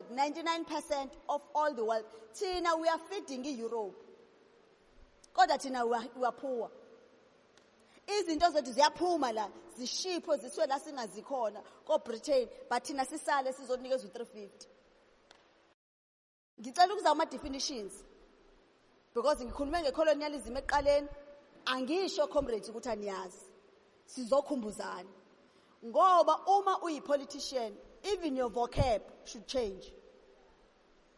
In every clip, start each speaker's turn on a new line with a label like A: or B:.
A: 99 percent of all the world thina we are feeding i-europe kodwa thina we are, we are poor izinto zethu ziyaphuma la zishipho ziswe la singazikhona ko-britain but thina sisale sizonikezwa u-350 ngicela ukuzama ama-definitions because ngikhulume ngecolonialism ekuqaleni angisho comrades ukuthi aniyazi sizokhumbuzana ngoba uma uyipolitician even your vocab should change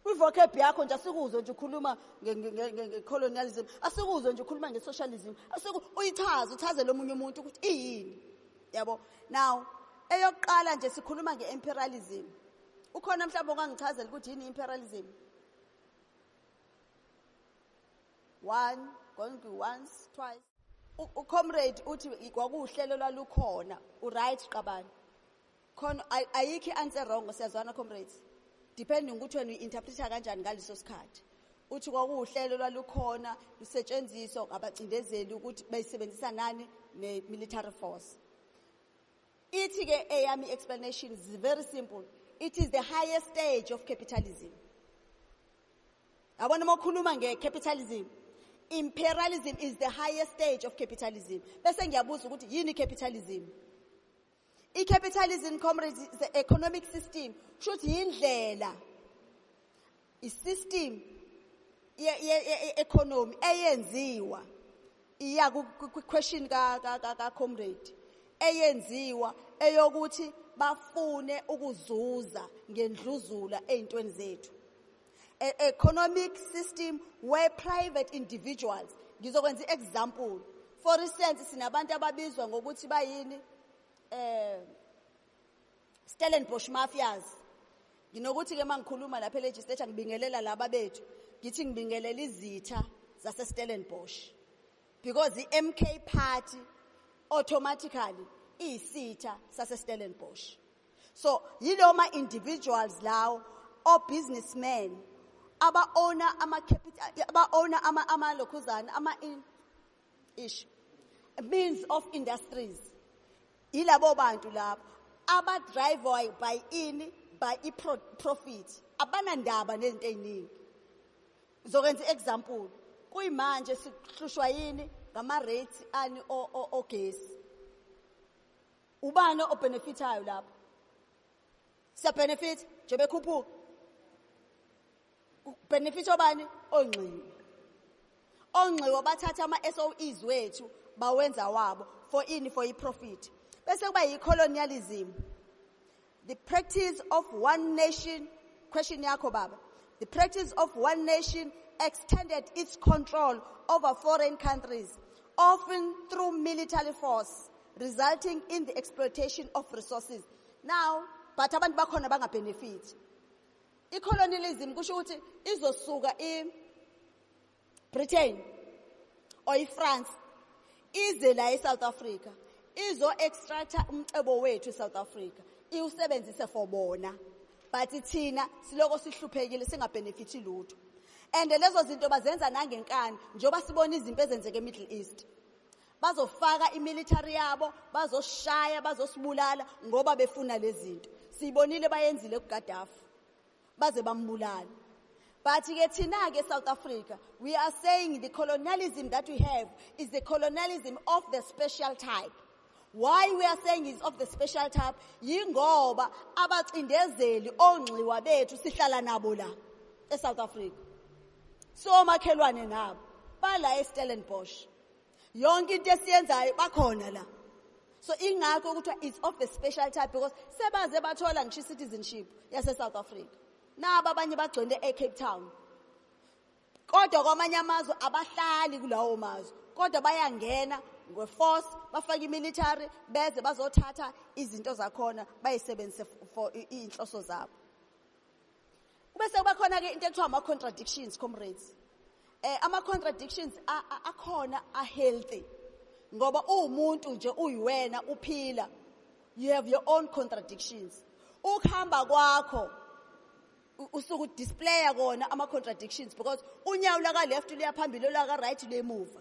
A: kwivocab yakho nje asikuzwe nje ukhuluma ngecolonialism asikuzwe nje ukhuluma ngesocialism asiku uyichaza uchaze lomunye umuntu ukuthi iyini yabo now eyokuqala nje sikhuluma ngeimperialism ukhona mhlawumbe ongangichazela ukuthi yini imperialism one going to once twice ucomrade uthi kwakuwuhlelo lwalukhona uright qabani khona ayikho i-answer wrong siyazwana comrades depending ukuthi wena uyi-interpreta kanjani ngaleso sikhathi uthi kwakuwuhlelo lwalukhona lusetshenziswa ngabacindezeli ukuthi bayisebenzisa nani ne-military force ithi-ke eyami explanation is very simple it is the highest stage of capitalism yabona uma ukhuluma nge-capitalism imperialism is the highest stage of capitalism bese ngiyabuza ukuthi yini capitalism i-capitalism comrades is the economic system kusho ukuthi yindlela i-system ye-economy eyenziwa iya kwi-question ka-comrade eyenziwa eyokuthi bafune ukuzuza ngendluzula ey'ntweni zethu e-, economic system where private individuals ngizokwenza i-example for instance sinabantu ababizwa ngokuthi bayini um Stellenbosch Mafias. Nginokuthi ke mangikhuluma lapha elegislature ngibingelela laba bethu. Ngithi ngibingelela izitha zase Stellenbosch. Because iMK party automatically iyisitha sase Stellenbosch. So yiloma individuals lawo o businessmen aba owner ama capital aba owner ama ama lokhuzana ama in ish means of industries yilabo bantu labo abadrive by ini by i-profit abanandaba nezinto ey'ningi ngizokwenza i-example kuyimanje sihlushwa yini ngama-rates ani ogesi ubani obhenefithayo lapho siyabhenefitha nje bekhuphuka benefit obani ongxiwe ongxiwe bathatha ama-soes wethu bawenza wabo for ini for i-profit bese kuba yi-colonialism the practice of one nation question yakho baba the practice of one nation extended its control over foreign countries often through military force resulting in the exploitation of resources now but abantu bakhona bangabhenefiti I-colonialism kusho ukuthi izosuka i-Britain or i-France ize la e-South Africa izo-extracta umcebo wethu e-South Africa iwusebenzise for bona but thina siloko sihluphekile singabhenefithi lutho and lezo zinto bazenza nangenkani njengoba sibona izimpi ezenzeka e-middle east bazofaka imilitary yabo bazoshaya bazosibulala ngoba befuna lezinto sibonile bayenzile kuGaddafi baze bambulala but ke thina ke South Africa we are saying the colonialism that we have is the colonialism of the special type why we are saying is of the special type yingoba abacindezeli ongxiwa bethu sihlala nabo la eSouth Africa so makhelwane nabo bala eStellenbosch yonke into esiyenzayo bakhona la so ingakho kuthiwa it's of the special type because sebaze bathola ngisho i-citizenship yase-south africa naba abanye bagcwele e-cape town kodwa kwamanye amazwe abahlali kulawo mazwe kodwa bayangena ngeforce bafake imilitary beze bazothatha izinto zakhona bayisebenzise for iy'nhloso zabo kube sekuba khona-ke into ekuthiwa ama-contradictions comrades um ama-contradictions akhona a-healthy ngoba uwumuntu nje uyiwena uphila you have your own contradictions ukuhamba kwakho usuku displaya kona ama-contradictions because unyawo laka-left luyaphambili olaka-right luyemuva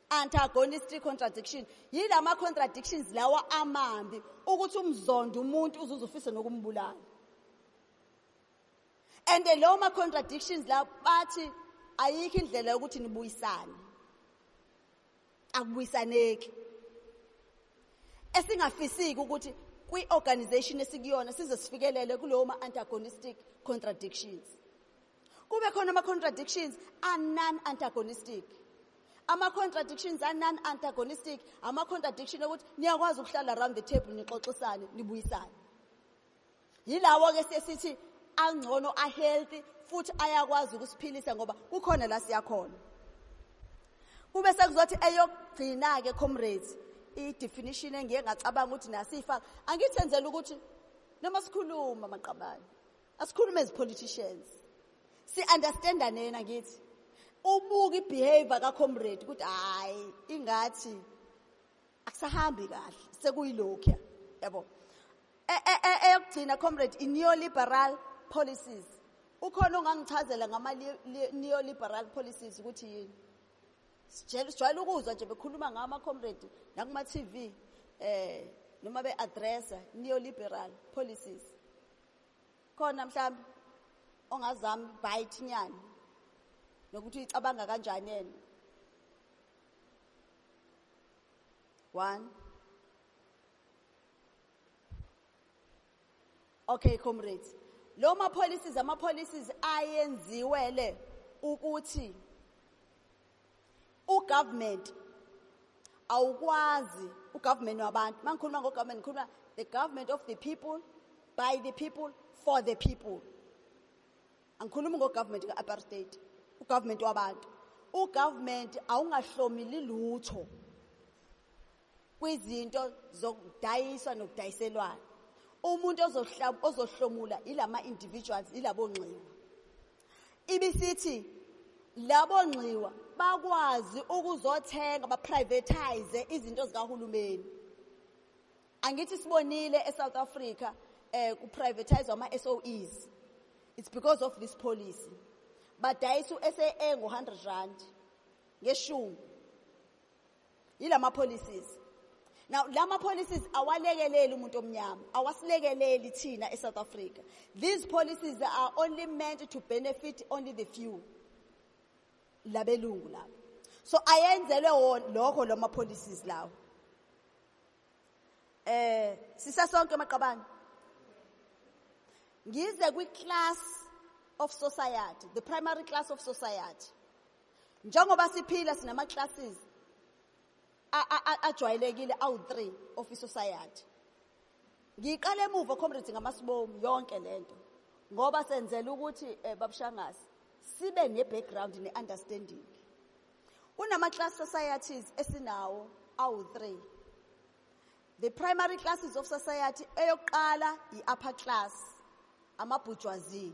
A: antagonistic contradiction yilama contradictions lawa amambi ukuthi umzonda umuntu uzuze ufise nokumbulala and lawo ma contradictions la bathi ayikho indlela yokuthi nibuyisane akubuyisaneki esingafisiki ukuthi kwi-organization esikuyona size sifikelele kulowo ma-antagonistic contradictions kube khona ama-contradictions anon-antagonistic ama-contradictions anon-antagonistic ama-contradiction okuthi niyakwazi ukuhlala around the table nixoxisane nibuyisane yilawo-ke sesithi angcono ahealthy futhi ayakwazi ukusiphilisa ngoba kukhona la siyakhona kube sekuzothi eyokugcina-ke comrades i-definition engiye ngacabanga ukuthi nasiyifaka angithenzela ukuthi noma sikhuluma maqabane Asikhulume as politicians. Si understandane yena ngithi. Ubuka ibehavior ka comrade ukuthi hayi ingathi akusahambi kahle sekuyilokho yabo. E, e, e, eyokugcina comrade i neoliberal policies. Ukhona ongangichazela ngama neoliberal policies ukuthi yini? Sijwayele ukuzwa nje bekhuluma ngama comrade nakuma TV eh noma be addressa neoliberal policies. khona mhlawumbe ongazami bite nyani nokuthi uyicabanga kanjani yena one okay comrades lo ma policies ama policies ayenziwe le ukuthi ugovernment awukwazi ugovernment wabantu mangikhuluma ngogovernment ngikhuluma the government of the people by the people for the people angikhulumi ngogovernment ka-apartheid ugovernment wabantu ugovernment awungahlomili lutho kwizinto zokudayiswa nokudayiselwana umuntu ozohlomula ilama individuals ilabo ngxewa Ibisithi labo nxiwa bakwazi ukuzothenga baprivatize izinto zikahulumeni. Angithi sibonile eSouth Africa eh kuprivatize ama SOEs. It's because of this policy. Badayisa uSAA ngo100 rand ngeshumi. Yilama policies. Now lama policies awalekeleli umuntu omnyama, awasilekeleli thina eSouth Africa. These policies are only meant to benefit only the few. Labelungu labo. So ayenzelwe wona lokho lama policies lawo. Eh sisasonke maqabane. Ngize kwi class of society, the primary class of society. Njengoba siphila sinama classes ajwayelekile awu-3 office society. Ngiqale emuva comrades ngamasibomu yonke lento ngoba senzela ukuthi eh, babushangazi sibe ne background ne understanding. Kunama class societies esinawo awu-3. The primary classes of society eyokuqala i-upper class amabhujwazi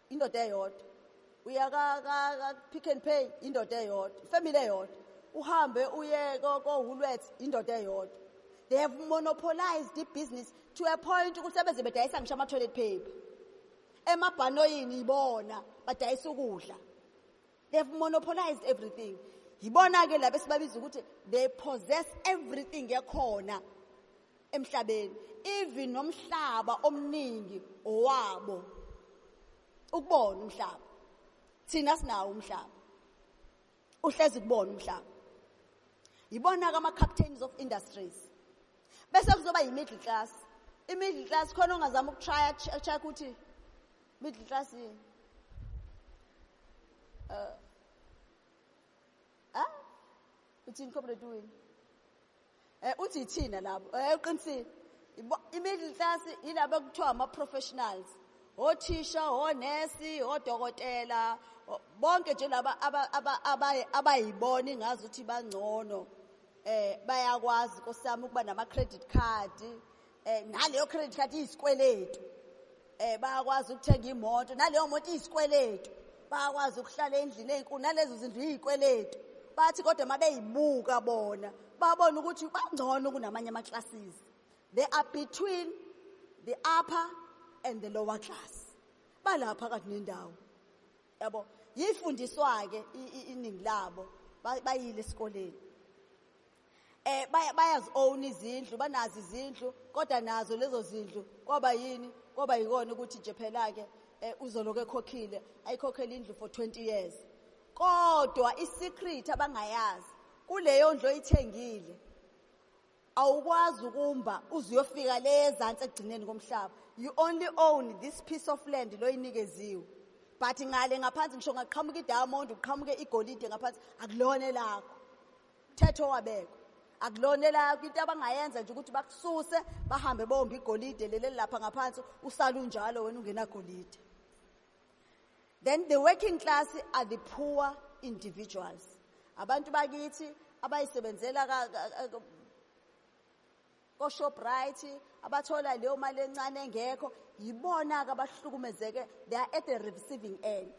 A: indoda eyodwa uya ka-pick and pay indoda eyodwa ifamily eyodwa uhambe uye kohulweth indoda eyodwa they have monopolized i-business to a point ukuthi sebeze bedayisa ngisho ama-toilet paper emabhanoyini ibona badayisa ukudla They've monopolized everything. Yibona ke laba esibabiza ukuthi they possess everything ekhona emhlabeni. Even nomhlaba omningi owabo. Ukubona umhlaba. Thina sinawo umhlaba. Uhlezi kubona umhlaba. Yibona ke ama captains of industries. Bese kuzoba yi middle class. I middle class khona ongazama ukutrya check ukuthi Middle class yini? Uh, ah? Uthini comrade wini? Eh uthi ithina labo. Eh uqinisile. I-middle class yilabo kuthiwa ama-professionals. Othisha, onesi, odokotela, bonke nje laba abayibona ingazi ukuthi bangcono eh bayakwazi nkosiyami ukuba nama credit card eh naleyo credit card isikweletu eh bayakwazi ukuthenga imoto naleyo moto isikweletu bayakwazi ukuhlala endlini ezinkulu nalezo zindlu izikweletu bathi kodwa mabeyibuka bona babona ukuthi bangcono kunamanye ama classes they are between the upper and the lower class balapha kathi nendawo yabo yifundiswa ke iningi labo bayile esikoleni Eh baya bayazi own izindlu banazi izindlu kodwa nazo lezo zindlu kwaba yini kwaba yikona ukuthi nje phela ke eh, uzoloku ekhokhile ayikhokhele indlu for 20 years kodwa isecret abangayazi kuleyo ndlu oyithengile awukwazi ukumba uzuyofika le ezantsi ekugcineni komhlaba you only own this piece of land loyinikeziwe but ngale ngaphansi ngisho ngaqhamuka idiamond uqhamuke igolide ngaphansi akulona elakho Mthetho wabekwa. Akulona elakho into abangayenza nje ukuthi bakususe bahambe bombe igolide leli lapha ngaphansi usala unjalo wena ungenagolide. Then the working class are the poor individuals. Abantu bakithi abayisebenzela koShoprite abathola leyo mali encane engekho yibona-ke abahlukumezeke they are at the receiving end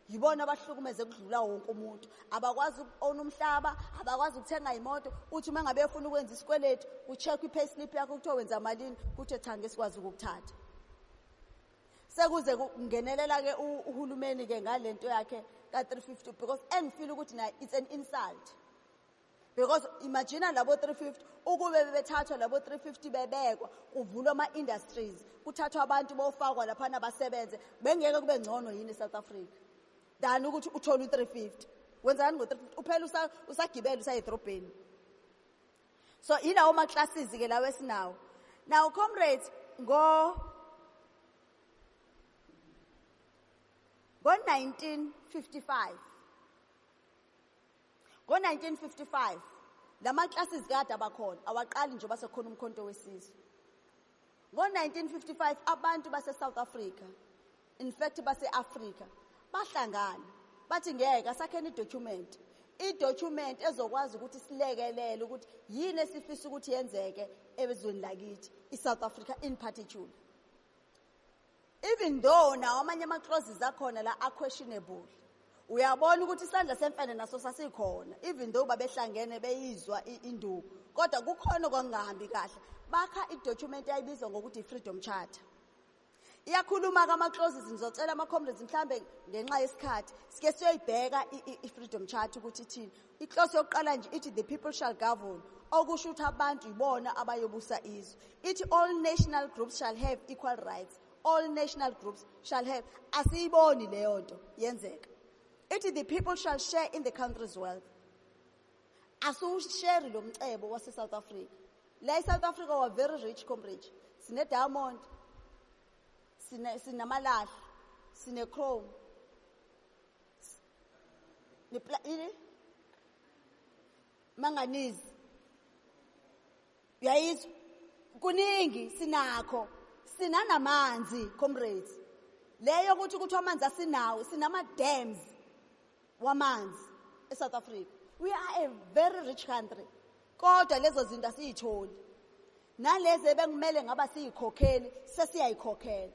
A: yibona abahlukumeze kudlula wonke umuntu abakwazi uku-owna umhlaba abakwazi ukuthenga imoto uthi uma ngabe efuna ukwenza isikweletu ku-check i-pay slip yakho kuthiwa wenza malini kuthiwe cha ngeke sikwazi ukukuthatha sekuze kungenelela-ke uhulumeni-ke ngale nto yakhe ka-350 because engifile ukuthi naye it's an insult because imagine labo 350 ukube bebethathwa labo 350 bebekwa kuvulwa ama industries kuthathwa abantu bofakwa lapha nabasebenze bengeke kube ngcono yini eSouth Africa than ukuthi uthole u350 wenzani ngo350 uphela usa usagibela usayedrobheni so ilawo ma classes ke lawo esinawo now comrades ngo ngo 1955 Ngo-1955 la maklasis kade abakhona awaqali njengoba sekukhona umkhonto wesizwe. Ngo-1955 abantu baseSouth Africa, in fact base-Afrika, bahlangana bathi ngeke asakheni idocument idocument ezokwazi ukuthi silekelele ukuthi yini esifisa ukuthi yenzeke ezweni lakithi iSouth Africa in particular even though nawo amanye ama-clauses akhona la a-questionable uyabona ukuthi isandla semfene naso sasikhona even though babehlangene beyizwa induku kodwa kukhona okwangingahambi kahle bakha idocument eyayibizwa ngokuthi i-freedom charter iyakhuluma-ke ama-clauses ngizocela ama-comrades mhlawumbe ngenxa yesikhathi sike siyoyibheka i-freedom charter ukuthi ithini Inhloso yokuqala nje ithi the people shall govern okusho ukuthi abantu yibona abayobusa izwe ithi all national groups shall have equal rights all national groups shall have asiyiboni leyo nto yenzeka ithi the people shall share in the country's wealth asiwusheri lo mcebo wase-south africa la e-south africa wa very rich comrade sine-diamond sinamalahle sine-chrome ini manganizi uyayizwa kuningi sinakho sinanamanzi comrades leyo ukuthi ukuthi amanzi asinawo sinama-dams wamanzi e-south africa we are a very rich country kodwa lezo zinto asiyitholi nalezi ebekumele ngaba siyikhokheli sesiyayikhokhela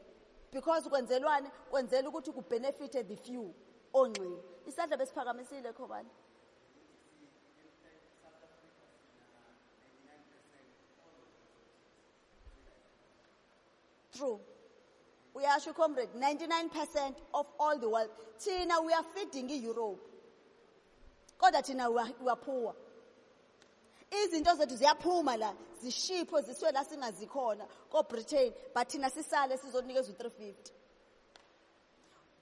A: because kwenzelwani kwenzela ukuthi kubenefite the few ongxile isandla besiphakamisile khobani true uyasho comrade 99% of all the world thina we are feeding i-europe kodwa thina we are poor izinto zethu ziyaphuma la zishipho ziswe la singazikhona ko-britain but thina sisale sizonikezwa u-350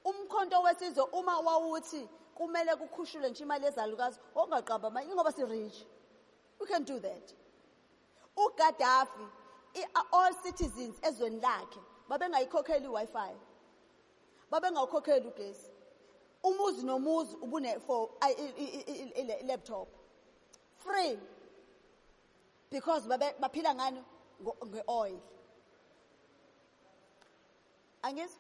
A: umkhonto wesizwe uma wawuthi kumele kukhushulwe nje imali yezalukazi ongaqamba amanye ingoba si-rich we can do that ugaddafi all citizens ezweni lakhe babengayikhokheli i-wi-fi babengawukhokheli ugesi umuzi nomuzi ubune for laptop free because baphila ngani nge-oil angizwa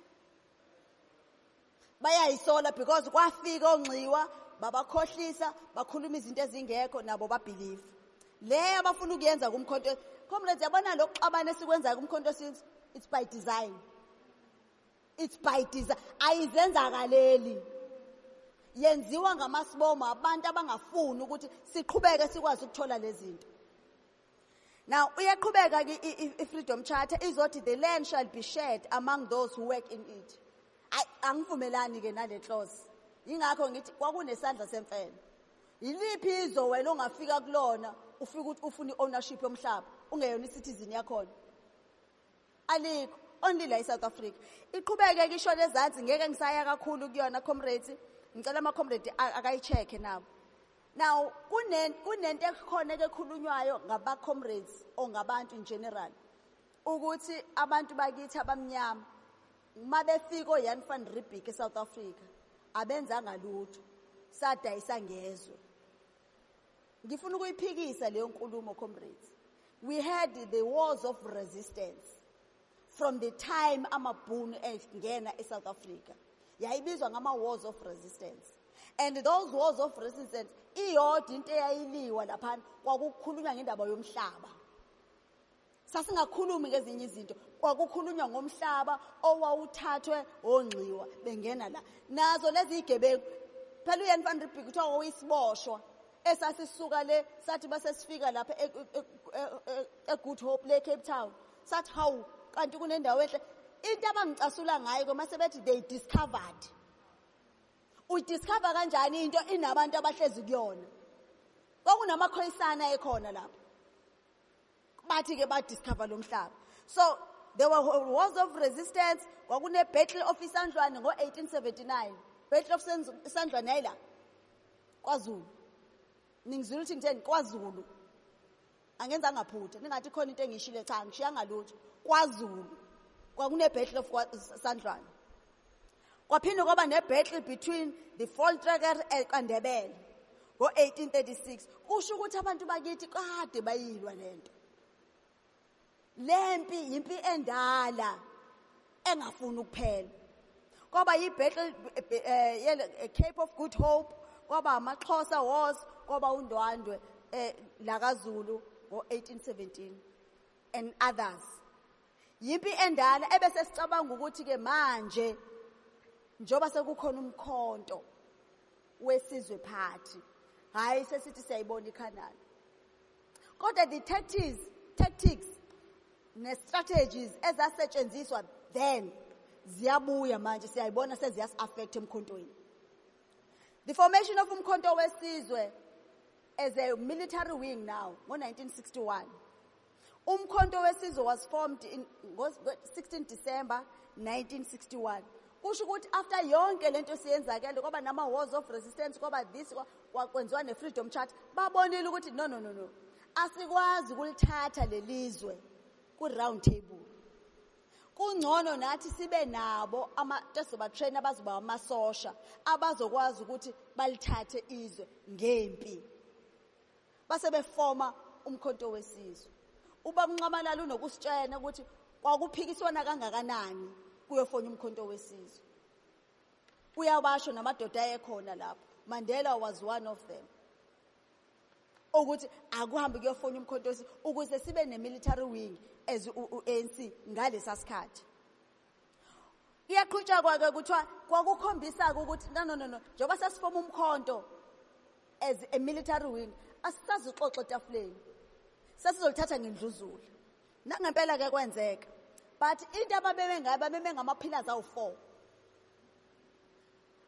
A: bayayisola because kwafika onxiwa babakhohlisa bakhuluma izinto ezingekho nabo babhilive le abafuna ukuyenza kumkhonto comrades yabona lokuxabana esikwenzayo kumkhonto since it's by design It's by design. Ayizenzakaleli. Yenziwa ngamasibomo abantu abangafuni ukuthi siqhubeke sikwazi ukuthola lezinto. Now uyaqhubeka ke freedom charter izothi the land shall be shared among those who work in it. Ay angivumelani ke nale clause. Ingakho ngithi kwakunesandla semfene. Yiliphi izo wena ongafika kulona ufika ukuthi ufuna ownership yomhlaba ungeyona citizen yakhona. alikho only la eSouth Africa iqhubeke kisho lezansi ngeke ngisaya kakhulu kuyona comrades ngicela ama comrades akayicheck nawo now kunen kunento ekhona ekhulunywayo ngaba comrades ongabantu in general ukuthi abantu bakithi abamnyama uma befika oyan van ribik eSouth Africa abenzanga lutho sadayisa ngezwe Ngifuna ukuyiphikisa leyo nkulumo comrades. We had the wars of resistance from the time amabhunu engena eSouth Africa. Yayibizwa ngama wars of resistance. And those wars of resistance iyodwa into eyayiliwa lapha kwakukhulunywa ngendaba yomhlaba. sasingakhulumi ngezinye izinto kwakukhulunywa ngomhlaba owawuthathwe ongxiwa bengena la nazo lezi igebengu phela uyen van ribik kuthiwa wawuyisiboshwa esasisuka le sathi base sifika lapha e, e, e, egood hope le cape town sathi hawu kanti kunendawo enhle into abangicasula ngayo koma sebethi they discovered udiscover kanjani into inabantu abahlezi kuyona kwakunamakhoyisana ekhona lapho bathi ke ba discover lomhlaba so there were wars of resistance kwakune battle of isandlwane ngo 1879 battle of isandlwane yayila kwaZulu ningizwile ukuthi ngitheni kwaZulu angenza ngaphutha ningathi khona into engishile cha ngishiyanga lutho kwaZulu kwakune battle of isandlwane Kwaphinde kwaba ne-battle between the Voltrekker kaNdebele ngo-1836. Kusho ukuthi abantu bakithi kade bayilwa le nto. Le mpi yimpi endala engafuni ukuphela. Kwaba yi-battle eh, eh, Cape of Good Hope, kwaba amaXhosa Wars, kwaba uNdwandwe eh, lakaZulu ngo-1817 and others. Yimpi endala ebese sicabanga ukuthi ke manje njoba sekukhona umkhonto wesizwe phathi hayi sesithi siyayibona iCanaan kodwa the tactics tactics ne strategies ezasetshenziswa then ziyabuya manje siyayibona seziyas affect emkhontweni the formation of umkhonto wesizwe as a military wing now ngo 1961 Umkhonto wesizwe was formed in 16 December 1961. Kusho ukuthi after yonke lento siyenzakele kwaba nama wars of resistance kwaba this kwakwenziwa ne freedom charter babonile ukuthi no no no no asikwazi kulithatha lelizwe ku round table. Kungcono nathi sibe nabo ama tesoba train abazoba amasosha abazokwazi ukuthi balithathe izwe ngempi. Base befoma umkhonto wesizwe. Ubaba Nxamalala unokusitshena ukuthi kwakuphikiswana kangakanani kuyofona umkhonto wesizwe. Uyabasho namadoda ayekhona lapho. Mandela was one of them. ukuthi akuhambe kuyofona umkhontosi ukuze sibe ne-military wing as u-anc ngalesa sikhathi iyaqhutshakwa-ke kuthiwa kwakukhombisa-ke ukuthi no no no no njengoba sesifoma umkhonto as a military wing asisazixoxo etafuleni sesizolithatha ngendluzula nangempela-ke kwenzeka but into ababeme ngayo babeme ngamaphilasi awu-four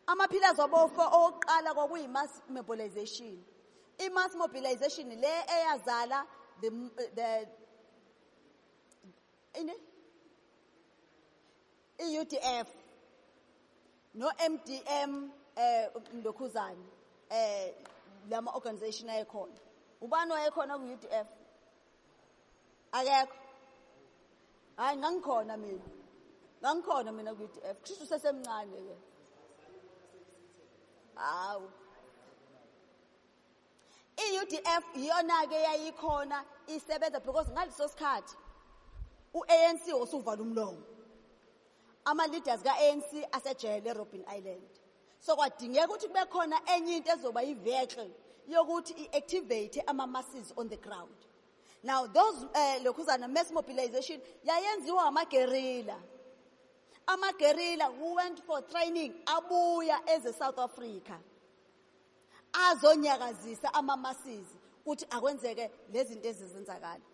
A: amaphilasi abofour owokuqala kwakuyi-mass mobilization i-mass mobilization le eyazala the, the Ini? I-UDF no-MDM eh Ndokhuzane eh lama organization ayekhona. Ubani wayekhona ku-UDF? Akekho. Hayi ngangikhona mina. Ngangikhona mina ku-UDF. Kusho usesemncane ke. Hawu. I-UDF iyona-ke yayikhona isebenza because ngaleso sikhathi u-ANC usuvala umlomo ama-leaders ka-ANC asejele eRobben Island so kwadingeka ukuthi kube khona enye into ezoba yi-vehicle yokuthi i-activate ama-masses on the ground now those um uh, lokhuzana mass mobilization yayenziwa amagerila amagerila who went for training abuya eze-south africa azonyakazisa amamasizi kuthi akwenzeke lezinto ezizenzakala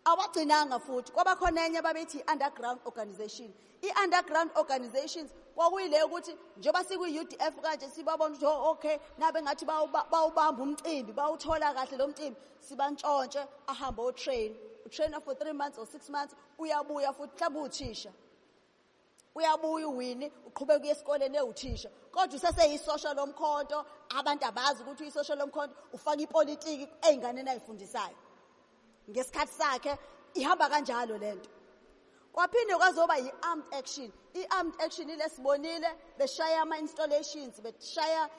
A: awagcinanga futhi kwabakhona enye babethi underground organization i-underground organizations kwakuyile ukuthi njengoba sikwi-udf kanje sibabona ukuthi oh, okay nabe ngathi bawubamba umcimbi bawuthola kahle lo mcimbi sibantshontshe ahambe otrain utrainer for three months or six months uyabuya futhi mhlawumbe uthisha uyabuya uwini uqhubeka uye esikoleni ewuthisha kodwa useseyisosha lomkhonto abantu abazi ukuthi uyisosha lomkhonto ufaka ipolitiki ey'nganeni ayifundisayo ngesikhathi sakhe ihamba kanjalo le nto kwaphinde kwazoba yi-armed action i-armed action ile sibonile beshaya ama-installations beshaya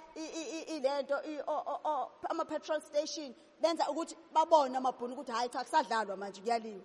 A: ile nto ama-petrol station benza ukuthi babone amabhunu ukuthi hhayi cha kusadlalwa manje kuyaliwa